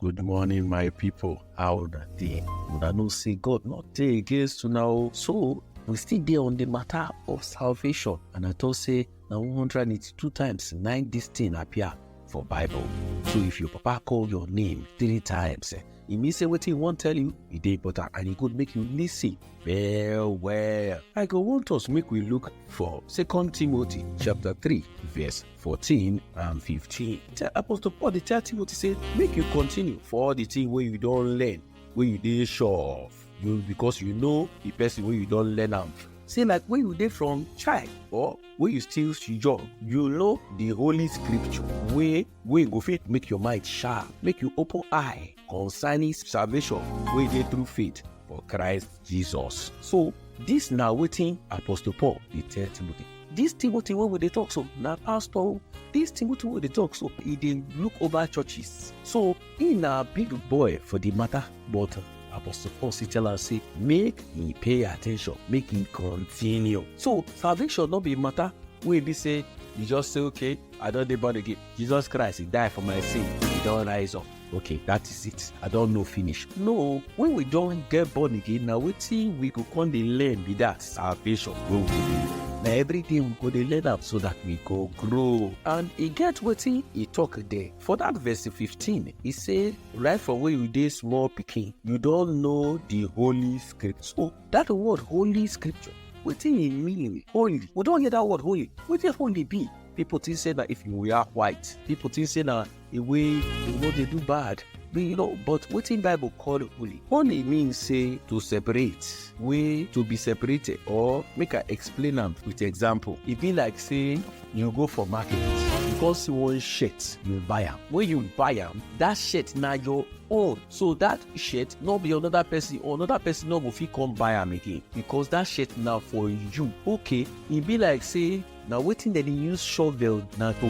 Good morning, my people. How una dey? Una know say God not dey against una o. So we still dey on the matter of salvation, and I talk say na 182 times nine this thing appear for Bible. So if your papa call your name three times, eh, e mean say wetin he wan tell you e dey important, and e good make you listen well well. I go want us make we look for Second Timothy chapter three verse 14 and 15. Tell Apostle Paul dey tell Timothy say make you continue for all the thing wey you don learn wey you dey sure of you because you know the person wey you don learn am say like when you dey from child or when you still young you know the holy scripture wey wey go fit make your mind sharp make you open eye concerning salvation wey dey through faith for christ jesus so dis na wetin apostle paul dey tell timothy dis timothy wey we dey talk so na pastor o dis timothy wey we dey talk so e dey look over churches so e na big boy for di matter but apostle paul still tell am say make e pay attention make e continue so salvation no be matter wey be say you just say okay i don dey born again jesus christ he die for my sin he don rise up okay that is it i don know finish no when we don get born again na wetin we go come dey learn be that salvation wey we dey na everyday we go dey learn am so that we go grow and e get wetin e talk there for that verse 15 e say right from when you dey small pikin you don know the holy scripture so that word holy scripture wetin e mean holy we don hear that word holy wetin holy be people think say na if you wear white people think say na the way you no dey do bad be you know but wetin bible call holy holy mean say to separate wey to be separated or make i explain am with example e be like say you go for market you come see one shirt you buy am when you buy am that shirt na your own so that shirt no be another person or another person no go fit come buy am again because that shirt na for you okay e be like say na wetin dem dey use shovel na to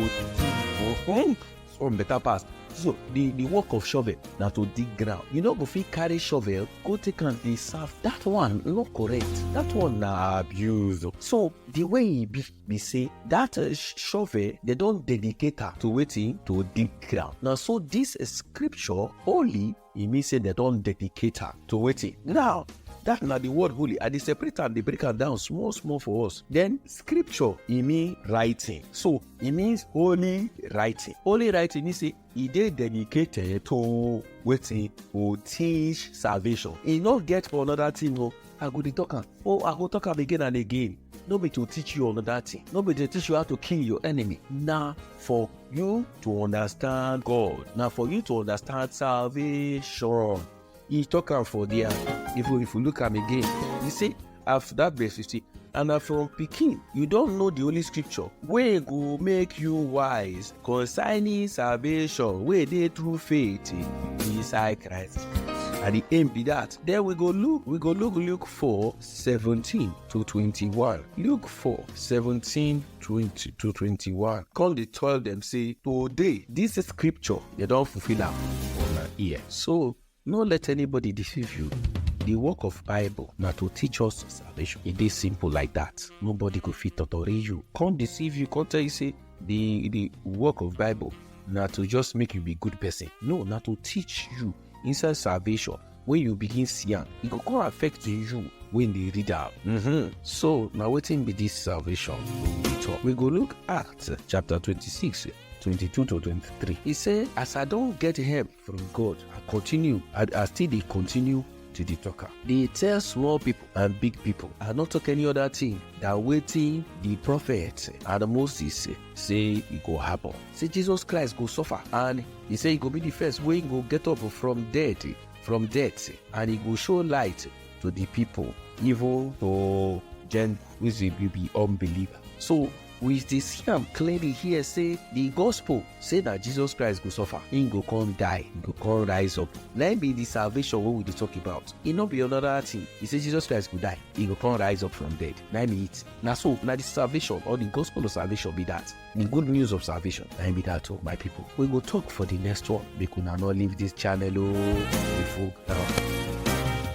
dig some better pass so the the work of shovel na to dig ground you no go fit carry shovel go take am dey serve that one no correct that one na abuse so the way e be be say that uh, shovel they don dedicate am to wetin to dig ground na so this uh, scripture holy e mean say dem don dedicate am to wetin now that na the word holy i dey separate am dey break am down small small for us then scripture e mean writing so e means holy writing holy writing mean say e dey dedicated to wetin go teach salvation e no get for another thing o i go dey talk am oh i go talk am again and again no be to teach you another thing no be to teach you how to kill your enemy na for you to understand god na for you to understand salvation he talk am for there if you if you look am again you see after that verse you see and na from pikin you don know the holy scripture wey go make you wise Concerning salvation wey dey through faith inside Christ. And the aim be that. Then we go look, we go look Luke 4, 17 to 21. Luke 4, 17 20 to 21. Come they tell them, say, today, this scripture, they don't fulfill am on our ear. So No let anybody deceive you. The work of Bible na to teach us salvation. E dey simple like that. Nobody go fit totori you, come deceive you, come tell you say the the work of Bible na to just make you be good person. No, na to teach you inside salvation. When you begin see am, e go come affect you when dey read am. Mm-hmm. So na wetin be this salvation? We talk. We go look Acts chapter twenty-six, twenty-two to twenty-three. E say, as I don get help from God. I continue. I, I still dey continue to dey talk am. Dey tell small people and big people. I no talk any other thing than wetin the prophet and Moses say e go happen. Say Jesus Christ go suffer and he say he go be the first wey go get up from death from death and he go show light to the people even to Gentiles wey be unbeliever. So we dey see am clearly here say the gospel say na jesus christ go suffer him go come die he go come rise up na him be the salvation wey we dey talk about e no be another thing he say jesus christ go die he go come rise up from dead na him be it na so na the salvation or the gospel of salvation be that the good news of salvation na him be that o my people we go talk for the next one make una no leave this channel o we full ground.